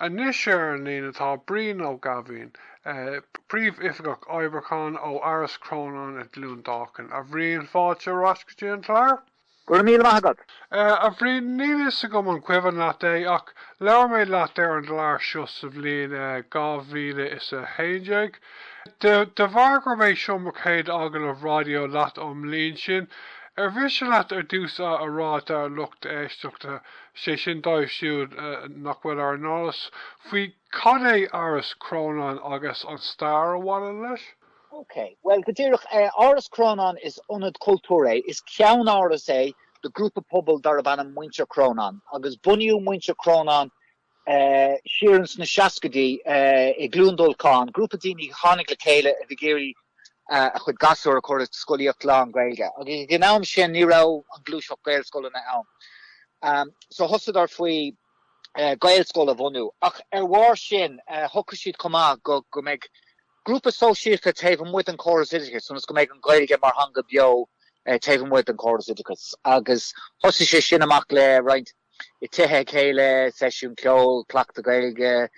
Anois ar an líne tá Brian Ó Gaibhín, Príomhoifigeach Oibriúcháin ó Áras Chrónáin i gCluain Dolcáin. A Bhrian, fáilte ar ais go dtí an clár. Go raibh míle maith agat. A Bhrian, níl fhios agam an cuimhin leat é, ach labhair mé leat ar an gclár seo sa bhliain 2011. De bharr gurb é seo mo chéad agallamh raidió leat ón mbliain sin, ar mhiste leat ar dtús a rá dár lucht éisteachta sé sin dóibh siúd nach bhfuil ar an eolas faoi cad é Áras Chrónáin agus an stair a bhaineann leis. OK. Bhuel, go díreach, Áras Chrónáin, is ionad cultúir é, is ceann-áras é do ghrúpa pobail darb ainm Muintir Chrónáin, agus bunaíodh Muintir Chrónáin siar ins na seascaidí i gCluain Dolcáin, grúpa daoine a tháinig le chéile a bhí ag iarraidh a chuid gasúr a chur i scolaíocht lán-Ghaeilge, agus ag an am sin ní raibh an ghluaiseacht Gaelscoileanna ann. So thosaíodar faoi Ghaelscoil a bhunú, ach ar bharr sin shocraigh siad chomh maith go mbeidh grúpa sóisialta taobh amuigh den chóras oideachais so go mbeidh an Ghaeilge mar theanga beo taobh amuigh den chóras oideachais, agus thosaigh sé sin amach le roinnt. i dtithe a chéile, seisiúin ceoil, cleachtadh Gaeilge,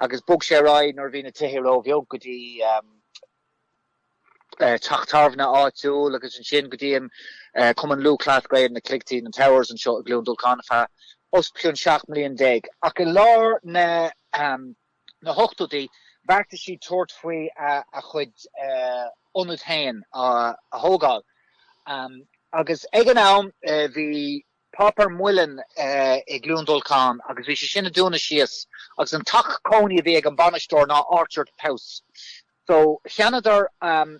agus bhog sé ar aghaidh nuair a bhí na tithe róbheag go dtí teach tábhairne áitiúil agus ansin go dtí an Cumann Lúthchleas Gael, na Cloigtí, na Towers anseo i gCluain Dolcáin feadh os cionn 17 mbliain. Ach i lár na hochtóidí bheartaigh siad tabhairt faoi a chuid ionad féin a thógáil agus ag an am bhí. páipéar muileann i gCluain Dolcáin agus bhí sé sin ag dúnadh síos agus an teach cónaí a bhí ag an bainisteoir ná Orchard House. So cheannaíodar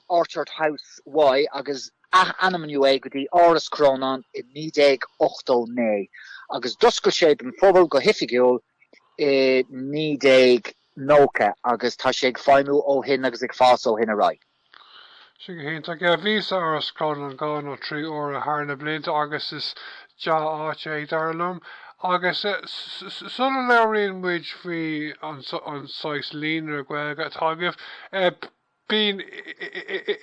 Orchard House Y agus athainmníodh é go dtí Áras Chrónáin i 1989 agus d'oscail sé don phobal go hoifigiúil i 1990 agus tá sé ag feidhmiú ó shin agus ag fás ó shin ar aghaidh. Sin go hiontach. Yeah, bhíos ag Áras Chrónáin dhá nó trí uaire thar na blianta agus is dea-áit é, dar liom. Agus sula labhraíonn muid faoi an saghas Líonra Gaeilge atá agaibh, bíonn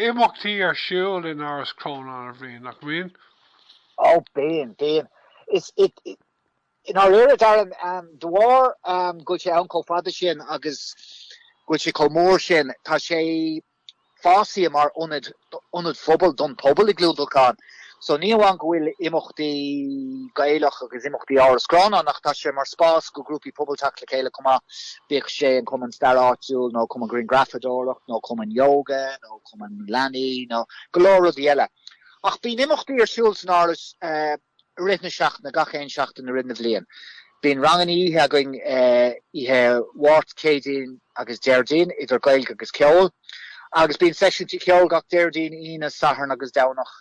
imeachtaí ar siúl in Áras Chrónáin a Bhrian, nach mbíonn? Ó, bíonn, bíonn. Is, I ndáiríre, Darren, de bharr go bhfuil sé ann chomh fada sin agus go bhfuil sé chomh mór sin, tá sé fásaithe mar ionad, ionad phobail don phobal i gCluain Dolcáin. So ní amháin go bhfuil imeachtaí Gaelach agus imeachtaí Áras Chrónáin ach tá sé mar spás do grúpaí pobail teacht le chéile chomh maith, bíodh sé an cumann stair áitiúil nó cumann grianghrafadóireacht nó cumann yoga nó cumann leanaí nó go leor rudaí eile. Ach bíonn imeachtaí ar siúl san Áras, i rith na seachtaine, gach aon seachtain i rith na bliana. Bíonn ranganna oíche againn oíche Mháirt, Céadaoin agus Déardaoin, idir Gaeilge agus ceol, agus bíonn seisiúintí ceoil gach Déardaoin, Aoine, Satharn agus Domhnach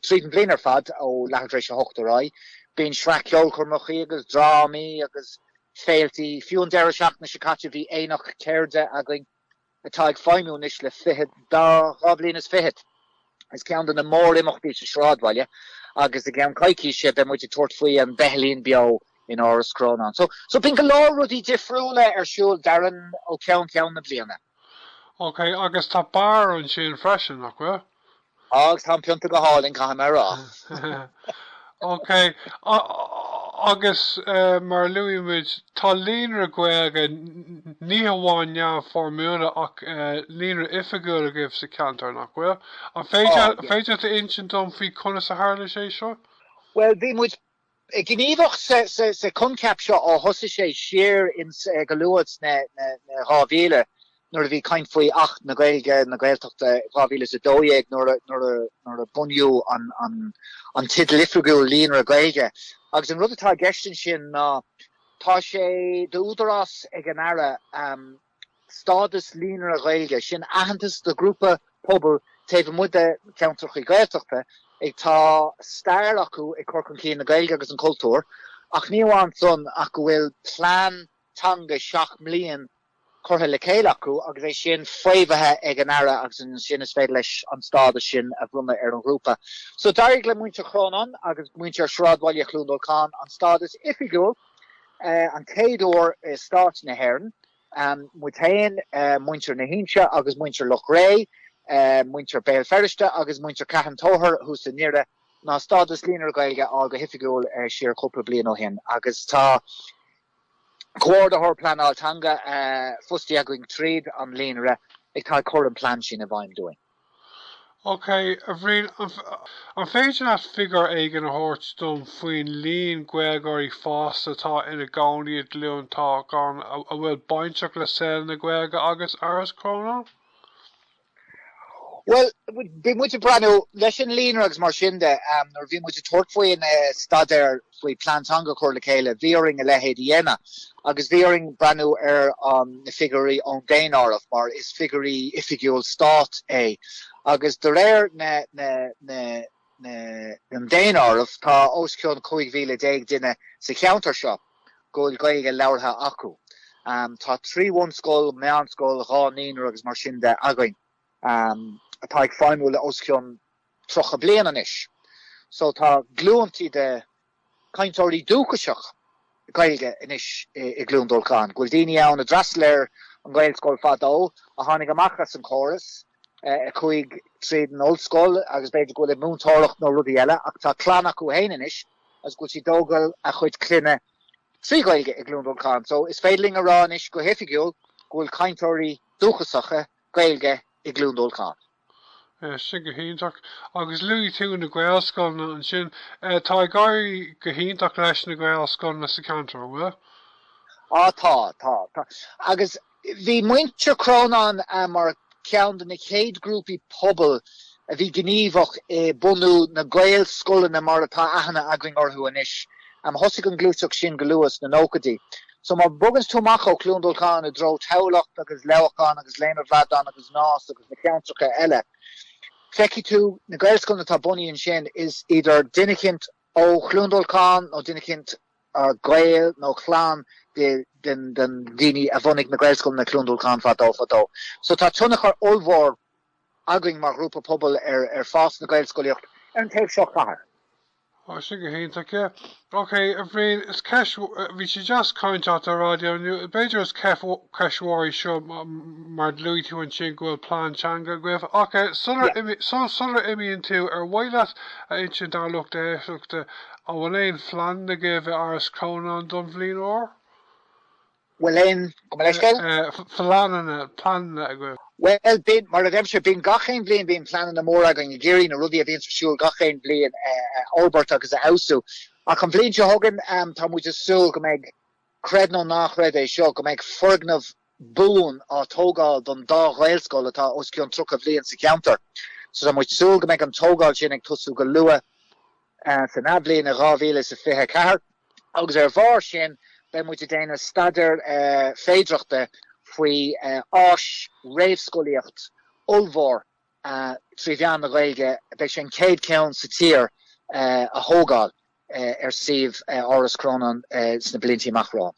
tríd an bhliain ar fad, ó leathuair tar éis a hocht ar aghaidh. Bíonn sraith ceolchoirmeachaí agus drámaí agus féiltí. Fiú an deireadh seachtaine seo caite bhí Aonach Ceirde againn. atá ag feidhmiú anois le fichead, dá, dhá bhliain is fichead. Is ceann de na mórimeachtaí sa sráidbhaile agus i gceann coicíse beidh muid ag tabhairt faoi An Beithilín Beo in Áras Chrónáin. So, so bíonn go leor rudaí difriúla ar siúl, Darren, ó cheann ceann na bliana. Okay, agus tá beár ansin freisin, nach bhfuil? Agus tá an pionta go hálainn, caithfidh mé a rá. OK, agus mar a luaigh muid, tá líonra Gaeilge, ní hamháin neamhfhoirmiúil ach líonra oifigiúil agaibh sa cheantar, nach bhfuil? An féidir leat a insint dom faoi conas a tharla sé seo? Bhuel, bhí muid gníomhach sa choincheap seo ó thosaigh sé siar ins go luath sna 2000 nuair a bhí caint faoi Acht na Gaeilge, na Gaeltachta 2012 nuair, nuair, nuair a bunaíodh an, an teideal oifigiúil Líonra Gaeilge. Agus an rud atá i gceist ansin ná tá sé d'údarás ag an Aire, stádas líonra Gaeilge, sin aitheantas do ghrúpa pobail taobh amuigh de cheantracha Gaeltachta ag tá stair acu ag cur chun cinn na Gaeilge agus an chultúir, ach ní amháin san ach go bhfuil plean teanga seacht mbliain curtha le chéile acu agus é sin faomhaithe ag an Aire agus ansin is féidir leis an stádas sin a bhronnadh ar an ghrúpa. So d'éirigh le muintir Chrónáin agus muintir Shráidbhaile Chluain Dolcáin an stádas oifigiúil, an chéad uair i Stáit na hÉireann, muid féin, muintir na hInse agus muintir Loch Ré, muintir Béal Feirste agus muintir Carn Tóchair thuas i nDoire, ná stádas Líonra Gaeilge a fháil go hoifigiúil siar cúpla bliain ó shin. Agus tá Comhordaitheoir Pleanála Teanga fostaithe againn tríd an Líonra atá ag cur an plean sin i bhfeidhm dúinn. OK, a Bhriain, an féidir leat figiúr éigin a thabhairt dom faoin líon Gaeilgeoirí fásta atá ina gcónaí i gCluain Dolcáin a bhfuil bainteach le saol na Gaeilge agus Áras Chrónáin? Bhuel, bhí muid ag breathnú leis an líonra agus mar sin de nuair a bhí muid ag tabhairt faoin staidéar faoi Plean Teanga a chur le chéile, bhí orainn a leithéid a dhéanamh Agus bhí orainn breathnú ar na figiúirí ón daonáireamh, mar is figiúirí oifigiúil stáit é. Agus de réir an daonáirimh, tá os cionn 15 mhíle duine sa cheantar seo go bhfuil Gaeilge labhartha acu. Tá trí bhunscoil, meánscoil, dhá naíonra agus mar sin de againn, atá ag feidhmiú le os cionn 30 bliain anois. So tá glúin tí de cainteoirí dúchasach Gaeilge anois i gCluain Dolcáin, go bhfuil daoine ann a d'fhreastal ar an nGaelscoil fadó, a tháinig amach as an gcóras, a chuaigh tríd an ollscoil agus b'fhéidir go bhfuil ag múinteoireacht nó rudaí eile ach tá clann acu féin anois agus go bhfuil siad ag tógáil a gcuid clainne trí Ghaeilge i gCluain Dolcáin. So is féidir linn a rá anois go hoifigiúil go bhfuil cainteoirí dúchasacha Gaeilge i gCluain Dolcáin. Sin go hiontach. Agus luaigh tú na Gaelscoileanna ansin. Tá ag éirí go hiontach leis na Gaelscoileanna sa cheantar, an bhfuil? Á tá, tá, tá. Agus bhí Muintir Chrónáin mar cheann de na chéad ghrúpaí pobail a bhí gníomhach i mbunú na Gaelscoileanna mar atá aithne againn orthu anois. Thosaigh an ghluaiseacht sin go luath sna nóchaidí. So má bhoganns tú amach ó Chluain Dolcáin i dtreo Tamhlacht agus Leamhcán agus Léim a' Bhradáin agus Nás agus na ceantracha eile, feicfidh tú na Gaelscoileanna atá bunaithe ansin, is idir duine eicínt ó Chluain Dolcáin nó duine eicínt gaoil nó chlann de dhaoine a bhunaigh na Gaelscoileanna i gCluain Dolcáin fadó fadó. So tá tionchar ollmhór againn mar ghrúpa pobail ar fás na Gaelscolaíochta ar an taobh seo den chathair. Tá sin go hiontach. OK, a Bhriain, is ceist, bhí sé deas caint leat ar raidió inniu, b'fhéidir is ceist, ceist mhór í seo mar luaigh tú ansin go bhfuil plean teanga agaibh ach eh sular imigh, sul, sular imíonn tú, ar mhaith leat a insint dár lucht éisteachta an bhfuil aon phlean agaibh in Áras Chrónáin don bhliain úr? bhfuil aon leithscéal, pleananna, pleananna agaibh? Bhuel, bíonn, mar a deirimse, bíonn gach aon bhliain, bíonn pleananna móra againn ag iarraidh na rudaí a bhíonns ar siúl gach aon bhliain a fhorbairt agus a fheabhsú. Ach an bhliain seo chugainn, tá muid ag súil go mbeidh, creid nó ná creid é seo, go mbeidh foirgneamh buan á tógáil don dá Ghaelscoil atá os cionn 30 bhliain sa cheantar. So tá muid ag súil go mbeidh an tógáil sin ag tosú go luath. san athbhliain i 2024 agus ar bharr sin beidh muid ag déanamh staidéar féidireachta faoi áis réamhscolaíochta ollmhór trí mheán na Gaeilge, beidh sé an chéad cheann sa tír, a thógáil ar suíomh Áras Chrónáin sna blianta amach romhainn.